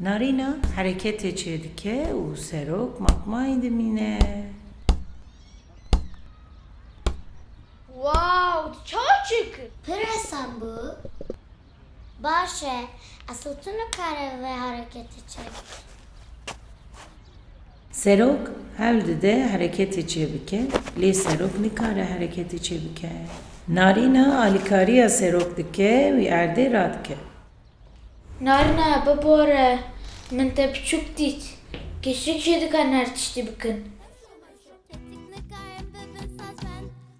Narîna hereketê çêdike û serok matmayî dimîne. Wow, tu çawa çêkir? Pir hesam bû. Baş e. Esl tu nikare vê hereketê çêbike. Serok hewl dide hereketê çêbike lê serok nikare hereketê çêbike. Narîna alîkariya serok dike wî erdê radike. Narîna bibore min te biçûk dît. Kêşik jê dikan her tiştî bikin.